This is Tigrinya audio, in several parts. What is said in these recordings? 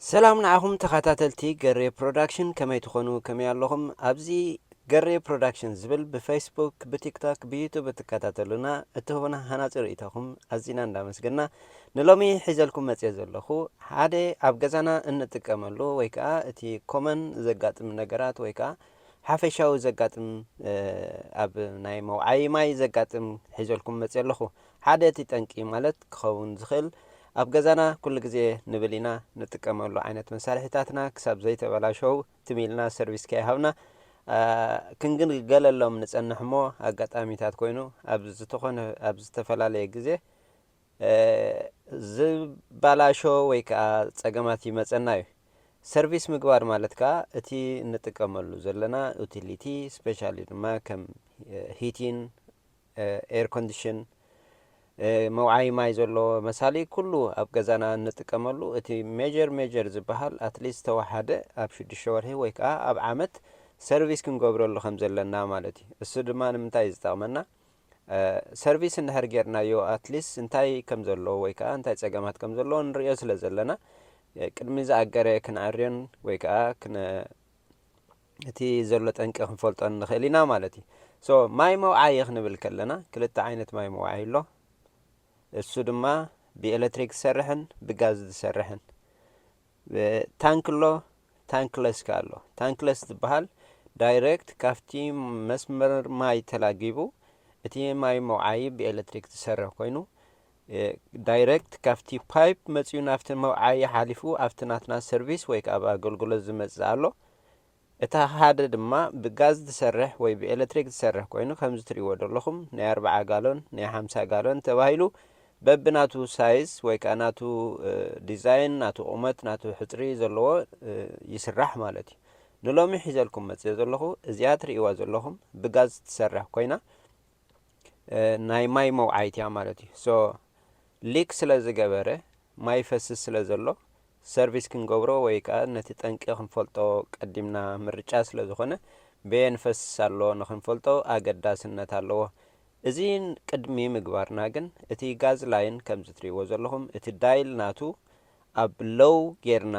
ሰላም ንዓኹም ተኻታተልቲ ገሬ ፕሮዳክሽን ከመይ ትኾኑ ከመይ ኣለኹም ኣብዚ ገሬ ፕሮዳክሽን ዝብል ብፈይስቡክ ብቲክቶክ ብዩቱብ እትከታተሉና እትህቡና ሃናጺ ርእይቶኹም ኣዚና እንዳመስገና ንሎሚ ሒዘልኩም መጽየ ዘለኹ ሓደ ኣብ ገዛና እንጥቀመሉ ወይ ከዓ እቲ ኮመን ዘጋጥም ነገራት ወይ ከዓ ሓፈሻዊ ዘጋጥም ኣብ ናይ መውዓይ ማይ ዘጋጥም ሒዘልኩም መጽየ ኣለኹ ሓደ እቲ ጠንቂ ማለት ክኸውን ዝኽእል ኣብ ገዛና ኩሉ ግዜ ንብል ኢና ንጥቀመሉ ዓይነት መሳርሒታትና ክሳብ ዘይተበላሸዉ ትም ኢልና ሰርቪስ ከይሃብና ክንግልገለሎም ንጸንሕ እሞ ኣጋጣሚታት ኮይኑ ኣብ ዝተኾነ ኣብ ዝተፈላለየ ግዜ ዝባላሾ ወይ ከኣ ጸገማት ይመጸና እዩ። ሰርቪስ ምግባር ማለት ከኣ እቲ እንጥቀመሉ ዘለና ኡቲሊቲ ስፔሻሊ ድማ ከም ሂቲን፣ ኤርኮንድሽን፣ መውዓዪ ማይ ዘለዎ መሳሊ ኩሉ ኣብ ገዛና እንጥቀመሉ እቲ ሜጀር ሜጀር ዝበሃል ኣትሊስት ዝተወሓደ ኣብ ሽዱሽተ ወርሒ ወይ ከኣ ኣብ ዓመት ሰርቪስ ክንገብረሉ ከም ዘለና ማለት እዩ። እሱ ድማ ንምንታይ እዩ ዝጠቕመና ሰርቪስ እንድሕር ጌርናዮ ኣትሊስት እንታይ ከም ዘለዎ ወይ ከኣ እንታይ ጸገማት ከም ዘለዎ ንርእዮ ስለ ዘለና ቅድሚ ዝኣገረ ክንዕርዮን ወይ ከኣ እቲ ዘሎ ጠንቂ ክንፈልጦ ንኽእል ኢና ማለት እዩ። So ማይ መውዓዪ ክንብል ከለና ክልተ ዓይነት ማይ መውዓዪ ኣሎ። እሱ ድማ ብኤለትሪክ ዝሰርሕን ብጋዝ ዝሰርሕን ታንክ ኣሎ ታንክለስ ከ ኣሎ። ታንክለስ ዝበሃል ዳይሬክት ካብቲ መስመር ማይ ተላጊቡ እቲ ማይ መውዓዪ ብኤለትሪክ ዝሰርሕ ኮይኑ ዳይረክት ካብቲ ፓይፕ መጺኡ ናብቲ መውዓዪ ሓሊፉ ኣብቲ ናትና ሰርቪስ ወይ ከኣ ኣብ ኣገልግሎት ዝመጽእ ኣሎ። እታ ሓደ ድማ ብጋዝ ትሰርሕ ወይ ብኤለትሪክ ትሰርሕ ኮይኑ ከምዚ ትርእይዎ ደለኹም ናይ ኣርብዓ ጋሎን ናይ ሓምሳ ጋሎን ተባሂሉ በብናቱ ሳይዝ ወይ ከኣ ናቱ ዲዛይን ናቱ ቁመት ናቱ ሕጽሪ ዘለዎ ይስራሕ ማለት እዩ። ንሎሚ ሒዘልኩም መጺኤ ዘለኹ እዚኣ ትርእይዋ ዘለኹም ብጋዝ ትሰርሕ ኮይና ናይ ማይ መውዓይት እያ ማለት እዩ ሶ ሊክ ስለ ዝገበረ ማይ ይፈስስ ስለ ዘሎ ሰርቪስ ክንገብሮ ወይ ከዓ ነቲ ጠንቂ ክንፈልጦ ቀዲምና ምርጫ ስለ ዝኾነ በየን ይፈስስ ኣሎ ንክንፈልጦ ኣገዳስነት ኣለዎ እዚ ቅድሚ ምግባርና ግን እቲ ጋዝ ላይን ከምዚ ትሪእዎ ዘለኹም እቲ ዳይል ናቱ ኣብ ሎው ጌርና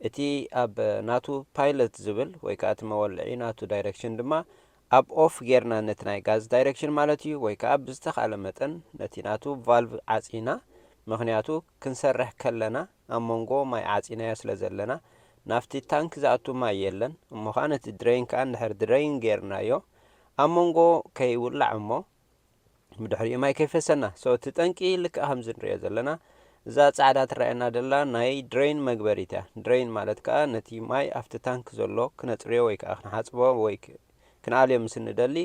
እቲ ኣብ ናቱ ፓይለት ዝብል ወይ ከዓ እቲ መወልዒ ናቱ ዳይረክሽን ድማ ኣብ ኦፍ ጌርና ነቲ ናይ ጋዝ ዳይረክሽን ማለት እዩ ወይ ከኣ ብዝተኻእለ መጠን ነቲ ናቱ ቫልቭ ዓጺና ምኽንያቱ ክንሰርሕ ከለና ኣብ መንጎ ማይ ዓጺናዮ ስለ ዘለና ናብቲ ታንክ ዝኣቱ ማይ የለን እሞኻኣ ነቲ ድረይን ከኣ እንድሕር ድረይን ጌርናዮ ኣብ መንጎ ከይውላዕ እሞ ብድሕሪኡ ማይ ከይፈሰና ሶ እቲ ጠንቂ ልክዕ ከምዚ ንሪኦ ዘለና እዛ ጻዕዳ ትረኣየና ደላ ናይ ድሬን መግበሪት እያ ድሬን ማለት ከዓ ነቲ ማይ ኣብቲ ታንክ ዘሎ ክነጽርዮ ወይ ከዓ ክንሓጽቦ ወይ ክንኣልዮ ምስ እንደሊ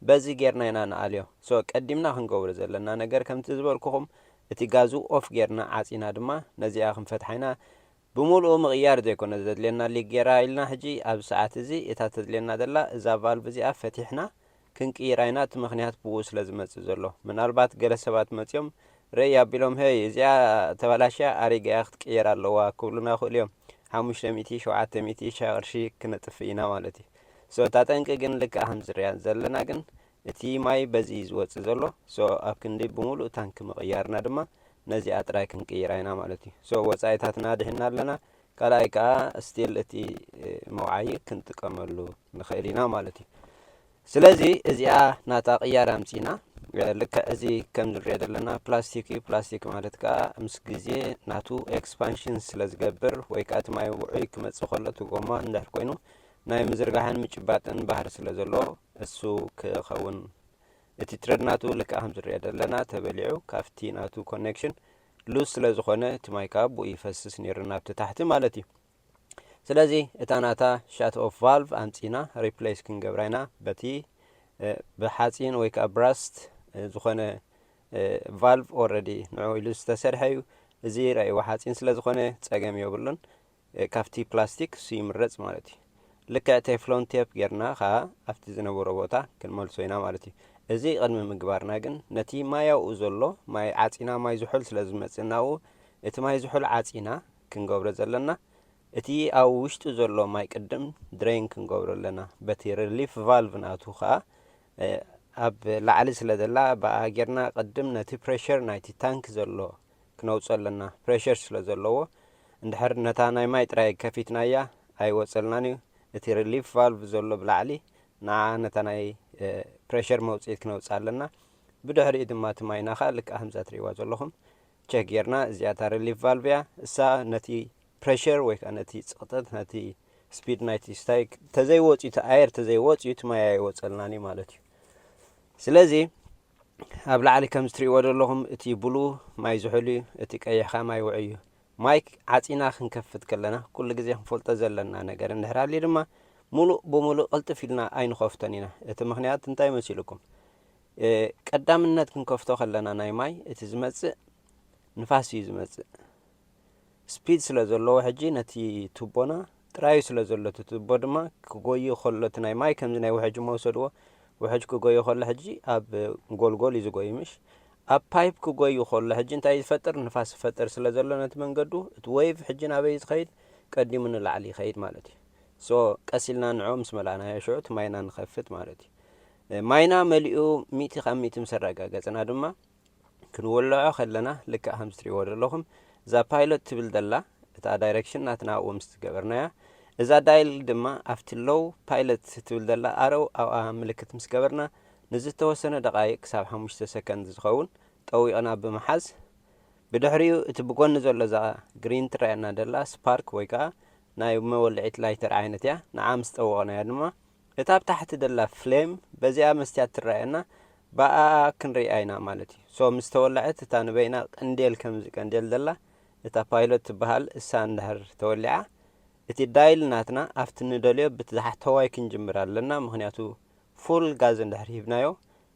በዚ ጌርና ኢና ንኣልዮ ሶ ቀዲምና ክንገብሮ ዘለና ነገር ከምቲ ዝበልኩኹም እቲ ጋዙ ኦፍ ጌርና ዓጺና ድማ ነዚኣ ክንፈትሓ ኢና ብምሉኡ ምቕያር ዘይኮነ ዘድልየና ሊክ ጌራ ኢልና ሕጂ ኣብዚ ሰዓት እዚ እታ ተድልየና ደላ እዛ ቫልቭ እዚኣ ፈቲሕና ክንቅይራ ኢና እቲ ምኽንያት ብኡ ስለ ዝመጽእ ዘሎ ምናልባት ገለ ሰባት መጺኦም ረይ ኣቢሎም ሀይ እዚኣ ተባላሽያ ኣሪጋ እያ ክትቅየር ኣለዋ ክብሉና ይኽእሉ እዮም ሓሙሽተ ሚእቲ ሸውዓተ ሚእቲ ሻ ቅርሺ ክነጥፍእ ኢና ማለት እዩ ሶ እታ ጠንቂ ግን ልክዕ ከምዚ ንሪኣ ዘለና ግን እቲ ማይ በዚ እዩ ዝወጽእ ዘሎ ሶ ኣብ ክንዲ ብምሉእ ታንኪ ምቕያርና ድማ ነዚኣ ጥራይ ክንቅይራ ኢና ማለት እዩ ሶ ወጻኢታትና ኣድሒንና ኣለና ካልኣይ ከኣ ስቲል እቲ መውዓዪ ክንጥቀመሉ ንኽእል ኢና ማለት እዩ። ስለዚ እዚኣ ናታ ቅያር ኣምጺና ልክዕ እዚ ከም ንሪኦ ዘለና ፕላስቲክ እዩ። ፕላስቲክ ማለት ከኣ ምስ ግዜ ናቱ ኤክስፓንሽን ስለ ዝገብር ወይ ከኣ እቲ ማይ ውዑይ ክመጽእ ከሎ እቲ ጎማ እንድሕር ኮይኑ ናይ ምዝርጋሕን ምጭባጥን ባህሪ ስለ ዘለዎ እሱ ክኸውን እቲ ትረድ ናቱ ልክዕ ከም ዝሪኦ ዘለና ተበሊዑ ካብቲ ናቱ ኮኔክሽን ሉዝ ስለ ዝኾነ እቲ ማይ ከኣ ብኡ ይፈስስ ኔሩ ናብቲ ታሕቲ ማለት እዩ ስለዚ እታ ናታ ሻት ኦፍ ቫልቭ ኣምጺና ሪፕሌስ ክንገብራ ኢና በቲ ብሓጺን ወይ ከኣ ብራስት ዝኾነ ቫልቭ ኦረዲ ንዑ ኢሉ ዝተሰርሐ እዩ እዚ ራእይዎ ሓጺን ስለ ዝኾነ ጸገም የብሉን ካብቲ ፕላስቲክ እሱ ይምረጽ ማለት እዩ። ልክዕ ቴፍሎን ቴፕ ጌርና ከኣ ኣብቲ ዝነበሮ ቦታ ክንመልሶ ኢና ማለት እዩ። እዚ ቅድሚ ምግባርና ግን ነቲ ማይ ኣብኡ ዘሎ ማይ ዓጺና ማይ ዝሑል ስለ ዝመጽእ ናብኡ እቲ ማይ ዝሑል ዓጺና ክንገብሮ ዘለና እቲ ኣብ ውሽጡ ዘሎ ማይ ቅድም ድረይን ክንገብሮ ኣለና በቲ ሪሊፍ ቫልቭ ናቱ ከኣ ኣብ ላዕሊ ስለ ዘላ ብኣ ጌርና ቅድም ነቲ ፕሬሸር ናይቲ ታንክ ዘሎ ክነውጾ ኣለና ፕረሸር ስለ ዘለዎ እንድሕር ነታ ናይ ማይ ጥራይ ከፊትናያ ኣይወጸልናን እዩ እቲ ሪሊፍ ቫልቭ ዘሎ ብላዕሊ ንዓ ነታ ናይ ፕረሸር መውጽኢት ክነውጽኣ ኣለና ብድሕሪኡ ድማ እቲ ማይና ከኣ ልክዕ ከምዛ ትርእይዋ ዘለኹም ቸክ ጌርና እዚኣ እታ ሪሊፍ ቫልቭ እያ እሳ ነቲ ፕረሸር ወይ ከኣ ነቲ ጽቕጠት ነቲ ስፒድ ናይቲ ስታይ ተዘይወጽዩ እቲ ኣየር ተዘይወጽዩ እቲ ማይ ኣይወጸልናን እዩ ማለት እዩ ስለዚ ኣብ ላዕሊ ከምዚ ትሪእዎ ዘለኹም እቲ ብሉ ማይ ዝሑል እዩ እቲ ቀይሕ ከኣ ማይ ውዑይ እዩ። ማይክ ዓጺና ክንከፍት ከለና ኩሉ ግዜ ክንፈልጦ ዘለና ነገር እንድሕር ሃልዩ ድማ ሙሉእ ብሙሉእ ቅልጥፍ ኢልና ኣይንኸፍቶን ኢና እቲ ምኽንያት እንታይ መሲልኩም ቀዳምነት ክንከፍቶ ከለና ናይ ማይ እቲ ዝመጽእ ንፋስ እዩ ዝመጽእ ስፒድ ስለ ዘለዎ ሕጂ ነቲ ቱቦና ጥራዩ ስለ ዘሎ እቲ ቱቦ ድማ ክጎዩ ከሎ እቲ ናይ ማይ ከምዚ ናይ ውሕጅ እሞ ውሰድዎ ውሕጅ ክጎዩ ከሎ ሕጂ ኣብ ጎልጎል እዩ ዝጎዩ ምሽ ኣብ ፓይፕ ክጎዩ ከሎ ሕጂ እንታይ ዝፈጥር ንፋስ ዝፈጥር ስለ ዘሎ ነቲ መንገዱ እቲ ወይቭ ሕጂ ናበይ ዝኸይድ ቀዲሙ ንላዕሊ ይኸይድ ማለት እዩ ሶ ቀስ ኢልና ንዕኦ ምስ መላእናዮ ሽዑ እቲ ማይና ንኸፍት ማለት እዩ ማይና መሊኡ ሚእቲ ካብ ሚእቲ ምስ ኣረጋገጽና ድማ ክንወልዖ ከለና ልክዕ ከምዚ ትሪእዎ ዘለኹም እዛ ፓይሎት ትብል ዘላ እታ ዳይሬክሽን ናትና ኣብኡ ምስ ገበርናያ እዛ ዳይል ድማ ኣብቲ ሎው ፓይለት ትብል ዘላ ኣረው ኣብኣ ምልክት ምስ ገበርና ንዝተወሰነ ደቓይቅ ክሳብ ሓሙሽተ ሰከንድ ዝኸውን ጠዊቕና ብምሓዝ ብድሕሪኡ እቲ ብጎኒ ዘሎ እዛ ግሪን ትረኣየና ዘላ ስፓርክ ወይ ከዓ ናይ መወልዒት ላይተር ዓይነት እያ ንዓ ምስ ጠወቕናያ ድማ እታ ኣብ ታሕቲ ደላ ፍሌም በዚኣ መስትያት ትረኣየና ብኣኣ ክንሪኣ ኢና ማለት እዩ so ምስ ተወለዐት እታ ንበይና ቅንዴል ከምዚ ቀንዴል ደላ እታ ፓይሎት ትበሃል እሳ እንድሕር ተወሊዓ እቲ ዳይል ናትና ኣብቲ ንደልዮ ብት ዝሓሕተዋይ ክንጅምር ኣለና ምክንያቱ ፉል ጋዝ እንድሕር ሂብናዮ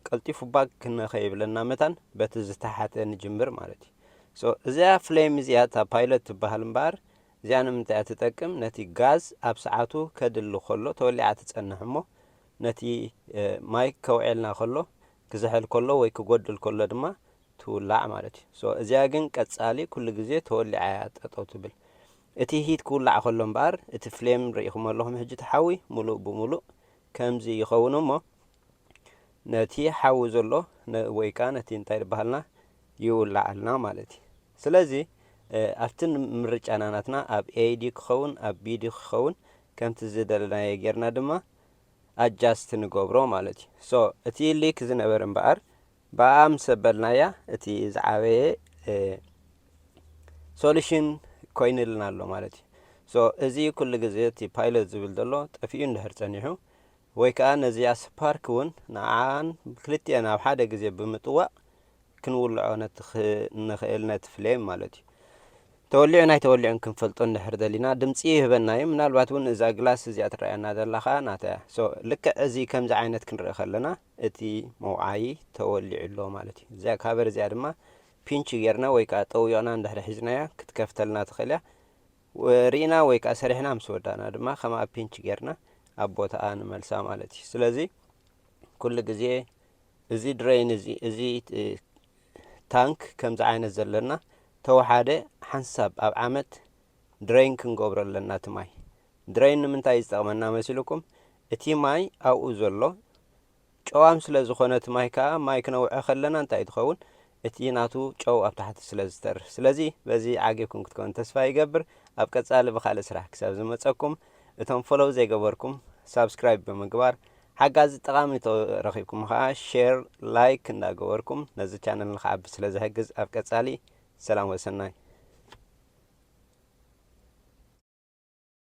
ቀልጢፉ ባክ ንከይብለና መታን በቲ ዝተሓተ ንጅምር ማለት እዩ so እዚኣ ፍሌም እዚኣ እታ ፓይሎት ትበሃል እምበኣር እዚኣ ንምንታይ እያ ትጠቅም? ነቲ ጋዝ ኣብ ሰዓቱ ከድሊ ከሎ ተወሊዓ ትጸንሕ እሞ ነቲ ማይ ከውዔልና ከሎ ክዝሕል ከሎ ወይ ክጎድል ከሎ ድማ ትውላዕ ማለት እዩ። so እዚኣ ግን ቀጻሊ ኩሉ ግዜ ተወሊዓ እያ ጠጠው ትብል። እቲ ሂት ክውላዕ ከሎ እምበኣር እቲ ፍሌም ርኢኹሞ ኣለኹም ሕጂ እቲ ሓዊ ምሉእ ብምሉእ ከምዚ ይኸውን እሞ ነቲ ሓዊ ዘሎ ወይ ከኣ ነቲ እንታይ ድበሃልና ይውልዓልና ማለት እዩ። ስለዚ ኣብቲ ምርጫና ናትና ኣብ A ድዩ ክኸውን ኣብ B ድዩ ክኸውን ከምቲ ዝደለናዮ ጌርና ድማ ኣጃስት ንገብሮ ማለት እዩ። ሶ እቲ ሊክ ዝነበረ እምበኣር ብኣኣ ምስ ኣበልናያ እቲ ዝዓበየ ሶሉሽን ኮይንልና ኣሎ ማለት እዩ። ሶ እዚ ኩሉ ግዜ እቲ ፓይለት ዝብል ዘሎ ጠፊኡ እንድሕር ጸኒሑ ወይ ከኣ ነዚኣ ስፓርክ እውን ንዓኣን ክልቲኤን ኣብ ሓደ ግዜ ብምጥዋቕ ክንውልዖ ንኽእል ነቲ ፍሌም ማለት እዩ። ተወሊዑን ኣይተወሊዑን ክንፈልጦ እንድሕር ደሊና ድምጺ ይህበና እዩ። ምናልባት እውን እዛ ግላስ እዚኣ ትረኣየና ዘላ ከኣ ናታ እያ። so ልክዕ እዚ ከምዚ ዓይነት ክንርኢ ከለና እቲ መውዓዪ ተወሊዑ ኣሎ ማለት እዩ። እዚኣ ካቨር እዚኣ ድማ ፒንች ጌርና ወይ ከኣ ጠዊቕና እንድሕር ሒዝናያ ክትከፍተልና ትኽእል እያ። ርኢና ወይ ከኣ ሰሪሕና ምስ ወዳእና ድማ ከም ኣብ ፒንች ጌርና ኣብ ቦታኣ ንመልሳ ማለት እዩ። ስለዚ ኩሉ ግዜ እዚ ድረይን እዚ እዚ ታንክ ከምዚ ዓይነት ዘለና ተወሓደ ሓንሳብ ኣብ ዓመት ድረይን ክንገብሮ ኣለና እቲ ማይ። ድረይን ንምንታይ እዩ ዝጠቕመና መሲልኩም እቲ ማይ ኣብኡ ዘሎ ጨዋም ስለ ዝኾነ እቲ ማይ ከኣ ማይ ክነውዐ ከለና እንታይ ትኸውን እቲ ናቱ ጨው ኣብ ታሕቲ ስለ ዝተርፍ ስለዚ በዚ ዓጊብኩም ክትከውን ተስፋ ይገብር ኣብ ቀጻሊ ብኻልእ ስራሕ ክሳብ ዝመጸኩም እቶም ፎሎው ዘይገበርኩም ሳብስክራይብ ብምግባር ሓጋዚ ጠቓሚ እንተ ረኺብኩም ከኣ ሼር ላይክ እንዳ ገበርኩም ነዚ ቻነል ንክዓቢ ስለ ዝሕግዝ ኣብ ቀጻሊ ሰላም ወሰናይ